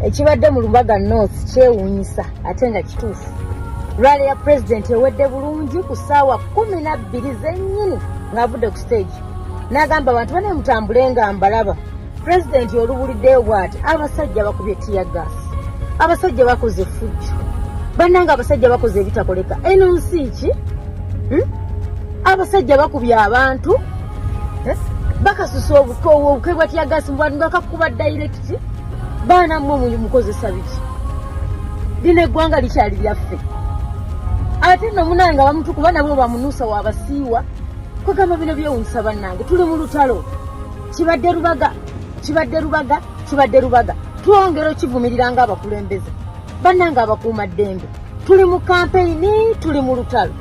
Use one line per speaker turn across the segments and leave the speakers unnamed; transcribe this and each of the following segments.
ekibadde mu lubaga north kyewuunyisa ate nga kituufu rwale ya pulezidenti ewedde bulungi ku ssaawa kumi na bbiri zennyini ng'avudde ku siteegi n'agamba abantu bane mutambule nga mbalaba pulezidenti olubuliddeyo bwati abasajja bakubye tiya gaasi abasajja bakoze effujjo bannanga abasajja bakoze ebitakoleka eno nsi ki hmm? abasajja bakubye abantu bakasusa obukwe bwa tiyagasi mbwati nga kakuba dayirekiti baana mmwe muyi mukozesa biki lino eggwanga likyali lyaffe ate no munange abamutu kuba nabwe bamunuusa wabasiiwa kwegamba bino byewunyisa bannange tuli mu lutalo kibadde lubaga kibadde lubaga kibadde lubaga twongera okivumirira nga abakulembeze bannange abakuuma ddembe tuli mu kampeyini tuli mu lutalo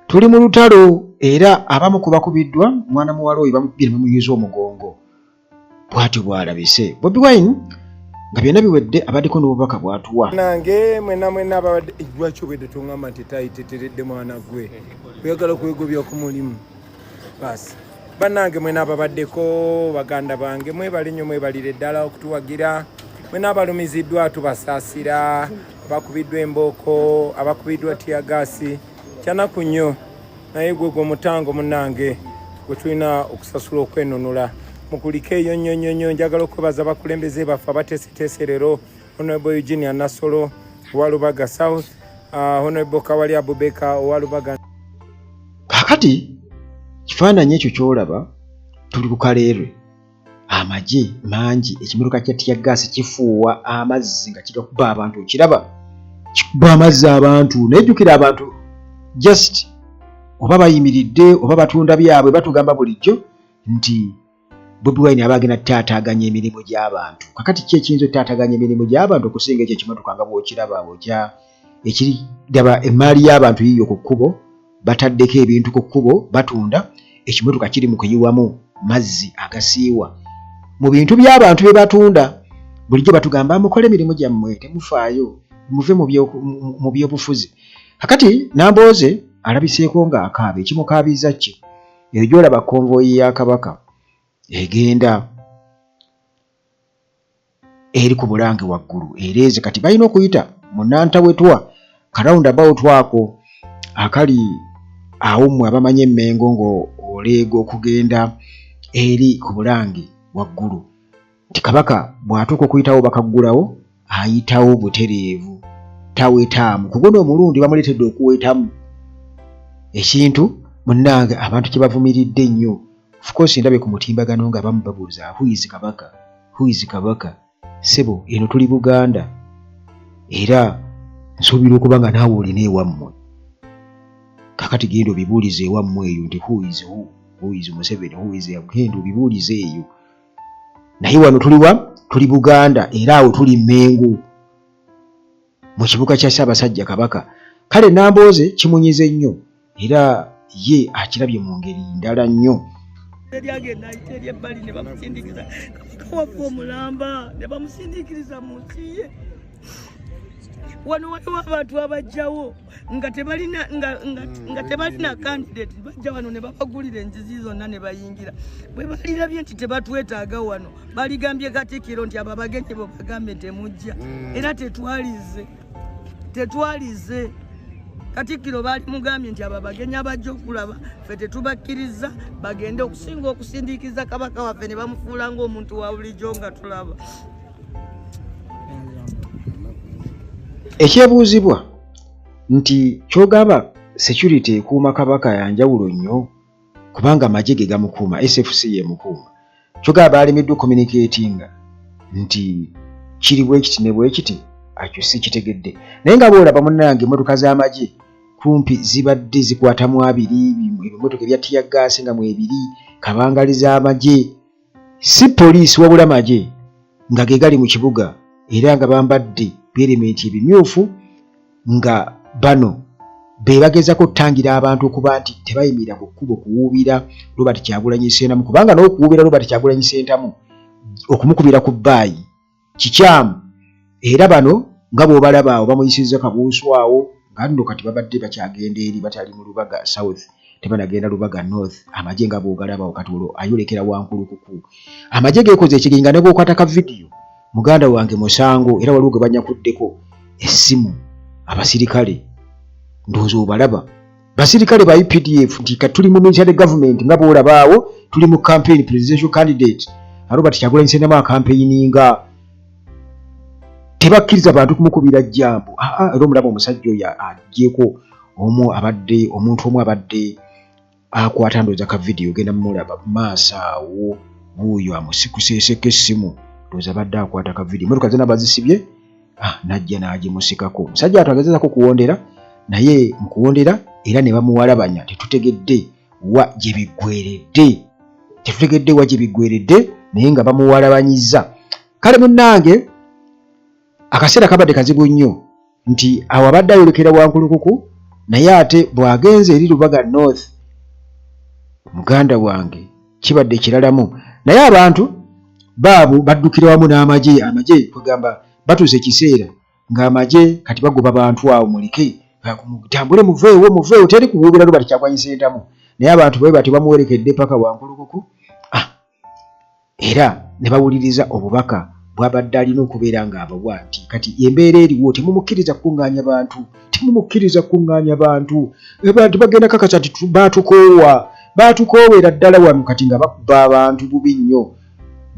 Tuli mu lutalo era abamu ku bakubiddwa mwana muwala oyo bamukubye ne bamuyuza omugongo. Bwatyo bw'alabise. Bobi Wine nga byonna biwedde abaddeko n'obubaka bw'atuwa. Nange mwena
mwena ababadde ejjwaki obwedde tungamba nti tayiteteredde mwana gwe oyagala kwegobya ku mulimu. basi banange mwena ababaddeko baganda bange mwebale nnyo mwebalire ddala okutuwagira mwena abalumiziddwa tubasaasira abakubiddwa embooko abakubiddwa tiyagaasi kyanaku nnyo naye gwe gwe omutango munange gwe tulina okusasula okwenunula mukulike eyo nnyo nnyo nnyo njagala okwebaza abakulembeze baffe abateeseteese leero honorable eugenia nasolo owalubaga south uh, honorable kawali abubeka owalubaga kakati
kifaananyi ekyo kyolaba tuli ku kaleerwe amagye mangi ekimiruka kya tiyagaasi kifuuwa amazzi nga kigakuba abantu okiraba kikuba amazzi abantu nayejjukira abantu just oba bayimiridde oba batunda byabwe batugamba bulijjo nti bobi wine aba agenda taataaganya emirimu gy'abantu kakati ki ekiyinza otaataaganya emirimu gy'abantu okusinga ekyo ekimotoka nga bwokiraba okya ekiri daba emmaali y'abantu yiyo ku kkubo bataddeko ebintu ku kkubo batunda ekimotoka kiri mu kuyiwamu mazzi agasiiwa mu bintu by'abantu bye batunda bulijjo batugamba mukole emirimu gyammwe temufaayo muve mu byobufuzi kakati nambooze alabiseeko ng'akaaba ekimukaabiza kye eyo gyolaba konvoyi ya kabaka egenda eri ku bulange waggulu ereeze kati balina okuyita munantawetwa karawundi about ako akali awo mmwe abamanyi emmengo ng'oleega okugenda eri ku bulange waggulu nti kabaka bw'atuuka okuyitawo bakaggulawo ayitawo butereevu tawetaamu kugona omulundi bamuleetedde okuwetamu ekintu munnange abantu kye bavumiridde nnyo ofcourse ndabe ku mutimbagano nga abamu babuuza huizi kabaka huizi kabaka sebo eno tuli buganda era nsuubira okuba nga naawe olina ewammwe kakati genda obibuulize ewammwe eyo nti huizi hu huizi museveni huizi genda obibuulize eyo naye wano tuliwa tuli buganda era awo tuli mengu mu kibuga kya ssaabasajja kabaka kale nambooze kimunyize nnyo era ye akirabye mu ngeri ndala nnyo
wano waliwo abantu abajjawo nga tebalina nga nga mm, nga tebalina candidate bajja wano ne babagulira enzizi zonna ne bayingira bwe balirabye nti tebatwetaaga wano baligambye katikiro nti abo abagenyi bo bagambe temujja mm. era tetwalize tetwalize katikiro baali mugambye nti abo abagenyi abajja okulaba fe tetubakkiriza bagende okusinga okusindiikiza kabaka waffe ne bamufuula ngaomuntu wa bulijjo nga tulaba
ekyebuuzibwa nti kyogamba security ekuuma kabaka yanjawulo nnyo kubanga amagye ge gamukuuma sfc yemukuuma kyogamba baalimiddwa communicatinga nti kiri bwekiti ne bwekiti akyo si kitegedde naye nga boolaba munnange emmotoka z'amagye kumpi zibadde zikwatamu abiri ebimotoka ebya tiyagaasi nga mwebiri kabangali z'amagye si poliisi wabula magye nga ge gali mu kibuga era nga bambadde bierementi ebimyufu nga bano be bagezako okutangira abantu okuba nti tebayimirira ku kkubo kuwuubira robert kyagulanyi sentamu kubanga n'okuwuubira robert kyagulanyi sentamu okumukubira ku bbaayi kikyamu era bano nga bwobalaba awo bamuyisizza kabuusu awo nga nno kati babadde bakyagenda eri batali mu lubaga south tebanagenda lubaga north amagye nga bwogalaba kati olwo ayolekera wankulukuku amagye gekoze ekiringa ne bwokwata ka vidiyo muganda wange musango era waliwo gwe banyakuddeko essimu abasirikale ndowooza obalaba basirikale ba updf nti kati tuli mu military government nga bwolabaawo tuli mu campaign presidential candidate arobat kyagulanyi sendamu akampeininga tebakkiriza bantu kumukubira jambo aa ah, ah, era omulaba omusajja oyo ajeko omu abadde omuntu omu abadde akwata ndooza ka vidiyo ogenda mumulaba maaso awo wuuyo amusikuseeseko essimu ndooza abadde akwata ka vidiyo emotoka zena bazisibye ah, najja n'agimusikako omusajja watu agezezako kuwondera naye mu kuwondera era ne bamuwalabanya tetutegedde wa gye biggweredde tetutegedde wa gye biggweredde naye nga bamuwalabanyizza kale munnange akaseera kabadde kazibu nnyo nti awo abadde ayolekera wankulukuku naye ate bw'agenze eri lubaga north muganda wange kibadde kiralamu naye abantu baabu baddukira wamu n'amagye amagye kwegamba batuuse ekiseera ng'amagye kati bagoba bantu awo mulike tambule muveewo muveewo teri kubuubira lubati kyakwanyisa entamu naye abantu babe bati bamuwerekedde paka wankulukuku ah, era ne bawuliriza obubaka bwabadde alina okubeera ng'abawa nti kati embeera eriwo temumukkiriza kukuŋŋaanya bantu temumukkiriza kukuŋŋaanya bantu bantu bagenda kakasa nti baatukoowa baatukoowera ddala wano kati nga bakuba abantu bubi nnyo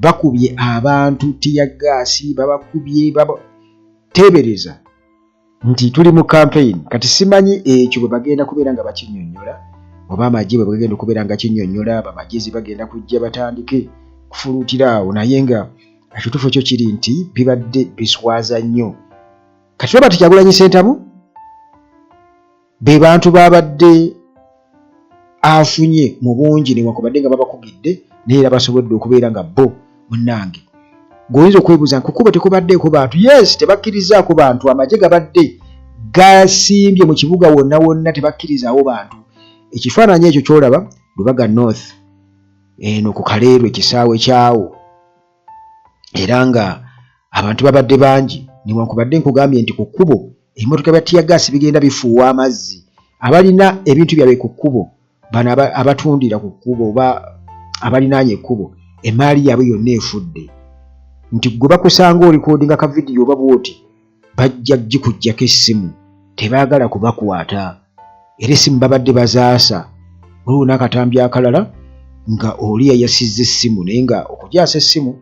bakubye abantu tiyagaasi babakubye teebereza nti tuli mu kampeyini kati simanyi ekyo bwe bagenda kubeera nga bakinyonyola oba amagye bwe bagenda okubeera nga kinyonyola bamagezi bagenda kujja batandike kufuluutira awo naye nga ekituufu kyo kiri nti bibadde biswaza nnyo kati robert kyagulanyi sentamu be bantu babadde afunye mu bungi newakubadde nga babakugidde naye era basobodde okubeera nga bo munange gweoyinza okwebuuza nkukubo tekubaddeeko bantu yes tebakkirizaako bantu amagye gabadde gasimbye mu kibuga wonna wonna tebakkirizaawo bantu ekifaananyi ekyo kyolaba lubaga north eno ku kaleerwe kisaawe kyawo era nga abantu babadde bangi newankubadde nkugambye nti ku kkubo ebimotoka bya tiyagaasi bigenda bifuuwa amazzi abalina ebintu byabwe ku kkubo bano abatundira ku kkubo oba abalinaanye ekkubo emaali yaabwe yonna efudde nti gwe bakusanga olikodinga ka vidiyo oba bwoti bajja gikujjako essimu tebaagala kubakwata era essimu babadde bazaasa waliwo n'akatambi akalala nga oli yayasizza essimu naye nga okujaasa essimu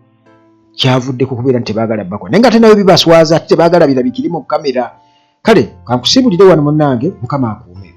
kyavudde ku kubeera nti tebaagala bakwa naye nga ate nayo bibaswaza ate tebaagala birabikire mu kamera kale kankusibulire wano munnange mukama akuume